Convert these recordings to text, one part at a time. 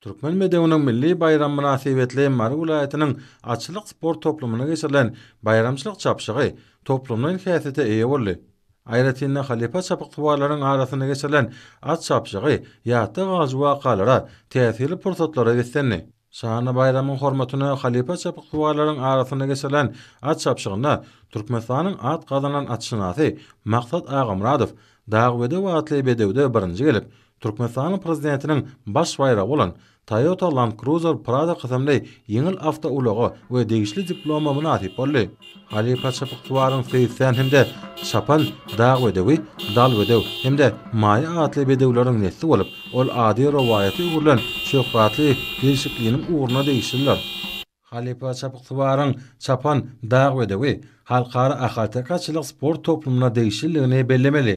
Türkmen bedewiniň milli baýramy mynasybetli Mary welaýatynyň atçylyk sport toplumynda geçirilen baýramçylyk çapyşygy toplumlaýyn häsiýete eýe boldy. Aýratyn-da, halypa çapyksuwarlaryň arasynda geçirilen at çapyşygy ýatda galyjy wakalara, täsirli pursatlara beslendi. Şanly baýramyň hormatyna halypa çapyksuwarlaryň arasynda geçirilen at çapyşygynda Türkmenistanyň at gazanan atşynasy Maksat Agamyradow Dagbedew atly bedewde birinji gelip, Türkmenistanyň Prezidentiniň baş baýragy bolan Toyota Land Cruiser Prado kysymly ýeňil awtoulaga we degişli diploma mynasyp boldy. Halypa Çapyksuwaryň Seýisjän hem-de Çapan dag bedewi, Dal bedew hem-de Maýa atly bedewleriň nesli bolup, ol ady rowaýata öwrülen şöhratly gelşikliniň ugruna degişlidir. Halypa Çapyksuwaryň Çapan dag bedewi halkara ahalteke atçylyk sport toplumyna degişlidigini bellemeli.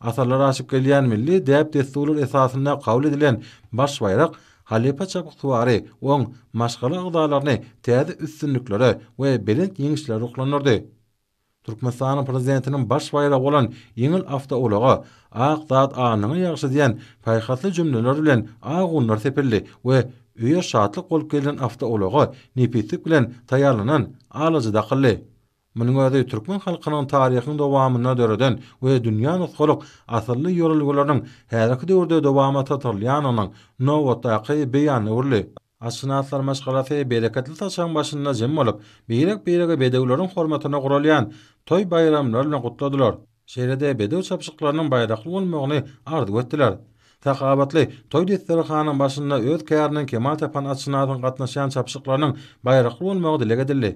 Asyrlar aşyp gelýän milli däp-dessurlar esasynda kabul edilen Baş baýrak halypa çapyksuwary, oň maşgala agzalaryny täze üstünliklere we belent ýeňişlere ruhlandyrdy. Türkmenistanyň Prezidentiniň Baş baýragy bolan ýeňil awtoulaga Ak zat alnyňa ýagşy diýen paýhasly jümleler bilen ak unlar sepildi we öýe şatlyk bolup gelen awtoulaga nepislik bilen taýýarlanan alaja dakyldy. Munuň özi türkmen halkynyň taryhyň dowamynda döreden we dünýä nusgalyk asylly ýörelgeleriniň häzirki döwürde dowama çatyrylýanynyň nobatdaky beýan öwrüldi. Atşynaslaryň maşgalasy bereketli saçagyň başynda jem bolup, birek-biregi bedewleriň hormatyna guralýan toý-baýramlar bilen gutladylar. Şeýle-de bedew çapyşyklarynyň baýrakly bolmagyny arzuw etdiler. Sahawatly toý desterhanynyň başynda öz käriniň kemal tapan atşynasyň gatnaşýan çapyşyklarynyň baýrakly bolmagy dileg edildi.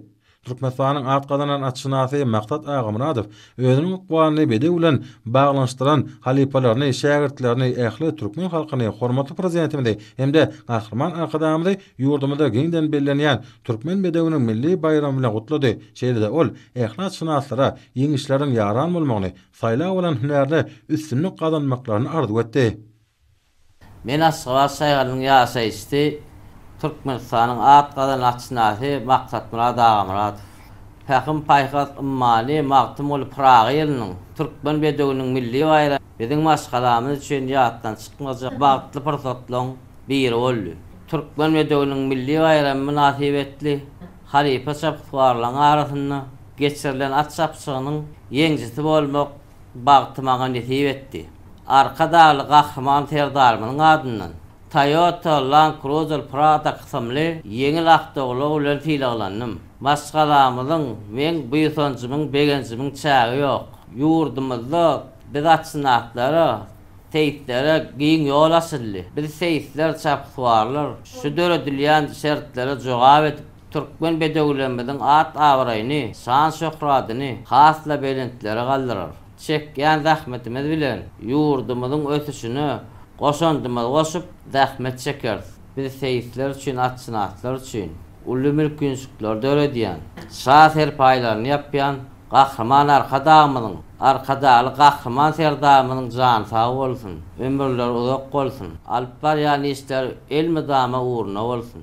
Türkmenistanyň at gazanan atşynasy Maksat Agamyradow özüniň ykbalyny bedew bilen baglanyşdyran halypalaryny, şägirtlerini, ähli türkmen halkyny, hormatly Prezidentimizi hem-de Gahryman Arkadagymyzy ýurdumyzda giňden bellenýän Türkmen bedewiniň milli baýramy bilen gutlady. Şeýle-de ol yhlasşynaslara ýeňişleriň ýaran bolmagyny, saýlap alan hünärde üstünlik gazanmaklaryny arzuw etdi. Men Aşgabat şäheriniň ýaşaýyşçy, Türkmenistanyň at gazanan atşynasy Maksatmyrat Agamyradow. Pähim-paýhas ymmany Magtymguly Pyragy ýylynyň, Türkmen bedewiniň milli baýramy, biziň maşgalamyz üçin ýatdan çykmajak bagtly pursatlaryň biri boldy. Türkmen bedewiniň milli baýramy mynasybetli halypa çapyksuwarlaryň arasynda geçirilen at çapyşygynyň ýeňjisi bolmak bagty maňa nesip etdi. Arkadagly Gahryman Serdarymyzyň adyndan Toyota Land Cruiser Prado kysymly ýeňil awtoulag bilen sylaglandym. Maşgalamyzyň, meň buýsanjymyň, begenjimiň çägi ýok. Ýurdumyzda Biz atşynaslara, seýislere giň ýol açyldy. Biz seýisler, çapyksuwarlar şu döredilýän şertlere jogap edip, türkmen bedewlerimiziň at-abraýyny, şan-şöhratyny has-da belentlere galdyrar. Çekýän zähmetimiz bilen ýurdumyzyň ösüşine goşandymyzy goşup, zähmet çekeris. Biz seýisler üçin, atşynaslar üçin. uly mülkinçlikleri döredýän, şa serpaýlaryny ýapýan Gahryman Arkadagymyzyň, Arkadagly Gahryman Serdarymyzyň jany sag bolsun, ömürleri uzak bolsun, alyp barýan işleri elmydama ugruna bolsun!